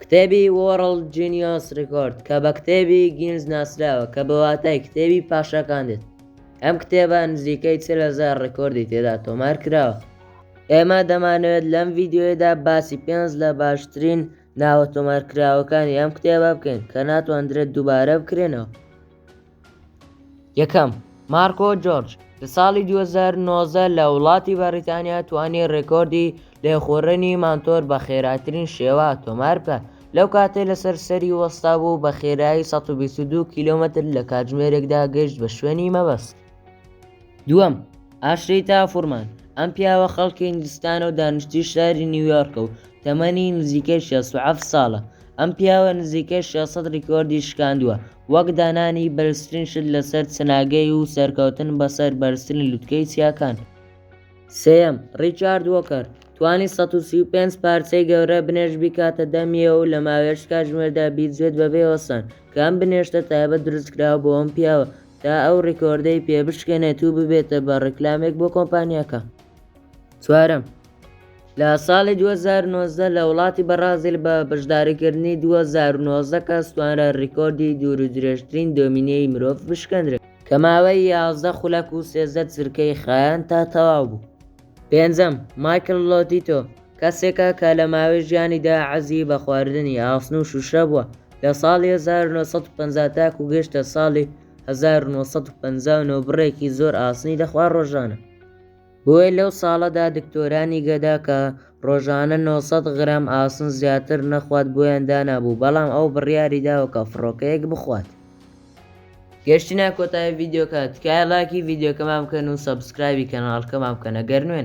کتێبی وۆڕڵد جینیۆس ڕیکۆرد کە بە کتێبی گینز ناسراوە کە بە واتای کتێبی پاشاکان دێت ئەم کتێبە نزیکەی چل هەزار ڕیکۆردی تێدا تۆمار کراوە ئێمە دەمانەوێت لەم ڤیدیۆیەدا باسی پێنج لە باشترین ناوە تۆمارکراوەکانی ئەم کتێبە بکەین کە ناتواندرێت دووبارە بکرێنەوە یەکەم، مارکۆ جۆرج لە ساڵی دوو هەزار و نۆزدە لە وڵاتی بەڕیتانیا توانی ڕێکۆردی لێخوڕینی مانتۆر بە خێراترین شێوە تۆمار بکات لەو کاتەی لەسەر سەری وەستابوو بە خێرایی سەد و بیست و دوو کیلۆمەتر لە کاتژمێرێکدا گەیشت بە شوێنی مەبەست. دووەم، ئاشریتا فورمان، ئەم پیاوە خەڵکی هیندستانە و دانیشتووی شاری نیویۆرکە و تەمەنی نزیکەی شێست و حەفت ساڵە، ئەم پیاوە نزیکەی شێست سەد ریکۆردی شکاندووە، وەک دانانی بەرزترین شت لەسەر چناگەی و سەرکەوتن بەسەر بەرزترین لوتکەی چیاکان. سێیەم، ریچارد وۆکەر، توانی سەد و سی و پێنج پارچەی گەورە بنێشت بیکاتە دە میوە و لەماوەیەکی کاتژمێردا بیجوێت بەبێ وەستان، کە ئەم بنێشتە تایبەت دروستکراوە بۆ ئەم پیاوە، تا ئەو ڕیکۆردەی پێ بشکێنێت و ببێتە بە ڕیکلامێک بۆ کۆمپانیاکە. چوارەم، لە ساڵی دوو هەزار و نۆزدە لە وڵاتی بەڕازیل بە بەشداریکردنی دوو هەزار و نۆزدە کەس توانرا ڕیکۆردی دوورودرێژترین دۆمینەی مرۆڤ بشکێندرێت، کە ماوەی یازدە خولەک و سێزدە چرکەی خایاند تا تەواو بوو. پێنجەم، مایکڵ لۆتیتۆ، کەسێکە کە لە ماوەی ژیانیدا حەزی بە خواردنی ئاسن و شوشە بووە، لە ساڵی هەزار و نۆ سەد و پەنجا تاکوو گەیشتە ساڵی هەزار و نۆ سەد و پەنجا و نۆ بڕێکی زۆر ئاسنی دەخوارد ڕۆژانە، بۆیە لەو ساڵەدا دکتۆرانی گەدا کە ڕۆژانە نۆ سەد غرام ئاسن زیاتر نەخوات بۆیان دانابوو، بەڵام ئەو بڕیاری داوە کە فڕۆکەیەک بخوات. گەشتینە کۆتایی ڤیدیۆکە تکایە ڵایکی ڤیدیۆکەمان بکەن و سەبسکرایبی کەناڵکەمان بکەنە گەر نوێن.